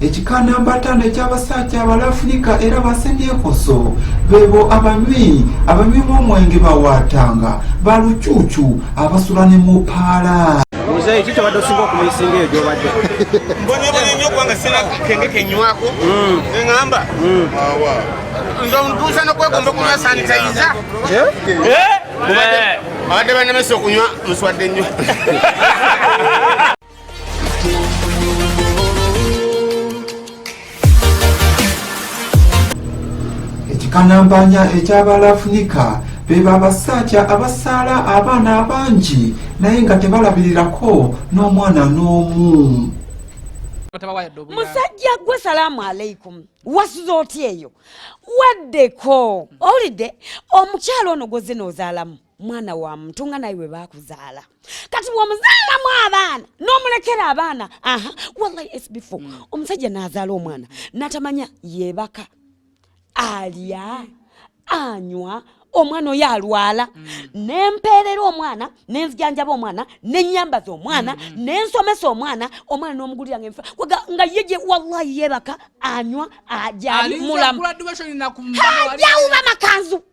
ekika namba ataano eky'abasajja abalafunika era basemyekoso bebo abanywi abanywi b'omwenge bawaatanga ba lucuucu abasula ne mu paala muzeeyi ki kyobadde osinga okumisinga eyo gyobadde mbonyebonye nyo kubanga sina kenge kenywako mm. eŋamba mm. nze omutuusa nokwegomba okunywa sanitayiza eh? Eh? abadde banemesa okunywa muswadde nnyo ekikanampanya eky'abalafunika beba abasajja abasaala abaana abangi naye nga tebalabirirako n'omwana n'omu musajja gwe salaamu aleikum wasuza otya eyo waddeko owulidde omukyalo ono gwoze noozaalamu mwana wa muntu nga naye webakuzaala kati bwomuzaalamu abaana nomulekera abaana aha wallahi sbf mm. omusajja nazaala omwana natamanya yebaka alya anywa omwana oyo alwala mm. nempeerera omwana nenzijanjaba omwana nenyambaza omwana mm. nensomesa omwana omwana nomugulira ngenfa nga yeje wallahi yebaka anywa ajali mulamu hajawuba makanzu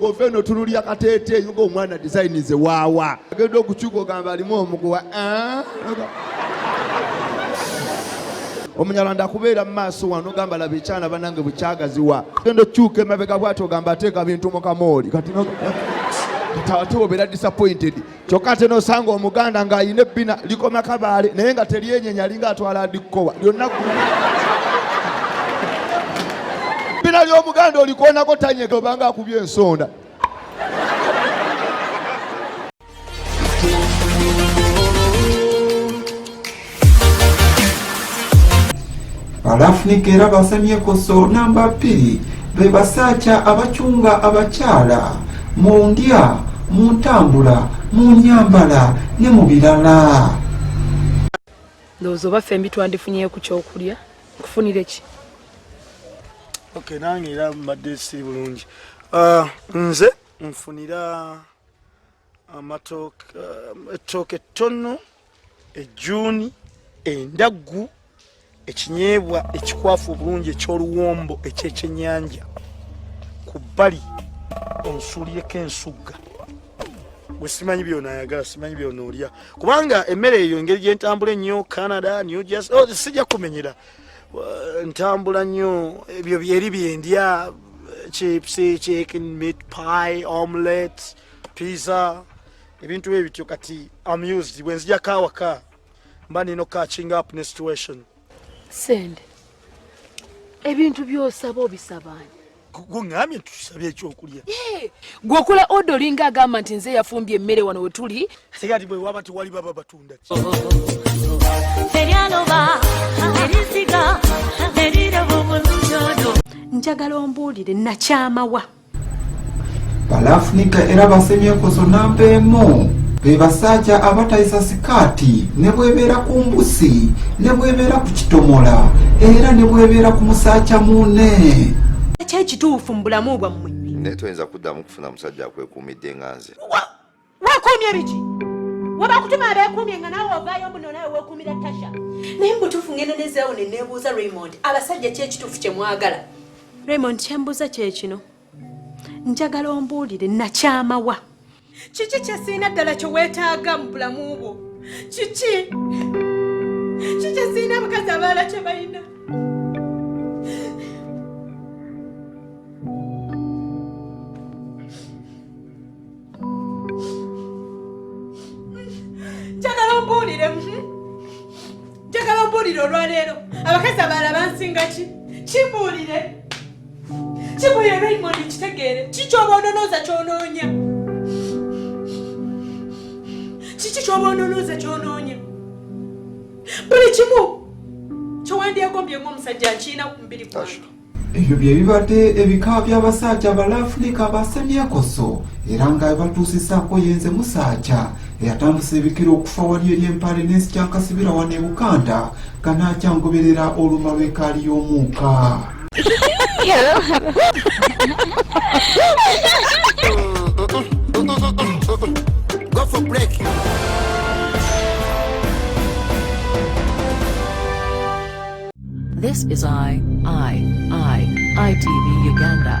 Ove no tunulira kateete nga omwana design ze waawa agenda okukyuka ogamba alimu omuguwa ah? omunyarwanda akubeera mu maaso wano ogamba laba ekyana banange bukyagaziwa genda okyuka emabega bwati ogamba ateeka bintu mu kamooli kati ate obeera disappointed kyokka ate nosanga omuganda ng'alina ebbina likoma kabaale naye nga teryenyenya alinga atwala adikkowa lyonna ebbina ly'omuganda olikoonako tanyega obanga akubye ensonda Balafunika era basemyeko so namba bbiri be basaaca abacunga abakyala mu ndya mu ntambula mu nyambala ne mu birala ndowooza oba fembi twandifunyeyo ku kyokulya kufunire ki ok nange era mbadde siri bulungi ah, nze nfunira amatooke eh, ettooke ettono ejjuuni endaggu ekinyeebwa ekikwafu obulungi eky'oluwombo ekyekyenyanja ku bbali onsuulireko ensugga gwe simanyi byona ayagala simanyi byona olya kubanga emmere eyo engeri gyentambula ennyo canada new jersey oh, sijja kumenyera ntambula nnyo ebyo byeri byendya chips chicken meat pie omelette piiza ebintu bye bityo kati amused bwe nzijako awaka mba nina okukachinga up ne situation sente ebintu byosaba obisabani gwongambye tusabe ekyokulya gweokola oda olinga agamba nti nze yafumbye emmere wano wetuli tegati bwewaba tewali baba batunda njagala ombuulire nakyamawa balafunika era basemyeko zonna mpeemu be basajja abatayisa sikaati ne bwebeera ku mbusi ne bwebeera ku kitomola era ne bwebeera ku musajja muune ki ekituufu mu bulamu bwammwe naye toyinza kuddamu kufuna musajja akwekuumidde nga nze Wakuumye biki? Wabakutuma abeekuumye nga naawe ovaayo mbu nonawe weekuumira Tasha. Naye mubutuufu ngenda nezaawo ne neebuuza Raymond abasajja ki ekituufu kye mwagala? Raymond kyembuuza kye kino. Njagala ombuulire nakyama wa? Kiki kye sirina ddala kye weetaaga mu bulamu bwo? Kiki? Kiki kye sirina abakazi abalala kye balina? njagala ombuulire mhm. njagala ombuulire olwaleero abakazi abalala bansinga ki kimbuulire kimbuulire raymond kitegeere kikyoba ononooza kyonoonya kiki kyoba ononooza kyonoonya buli kimu kyowandyegombye ngaomusajja nkiina ku mubiri gwange Ebyo bye bibadde ebika by'abasajja abalaafulika abasemyekoso era nga bebatuusisaako yenze musajja eyatandise ebikira okufa wali eri empale n'ensi kyakasibira wano e bukanda nga naakyangoberera oluma lw'ekaali y'omuuka Go for break. This is I, I, I, ITV Uganda.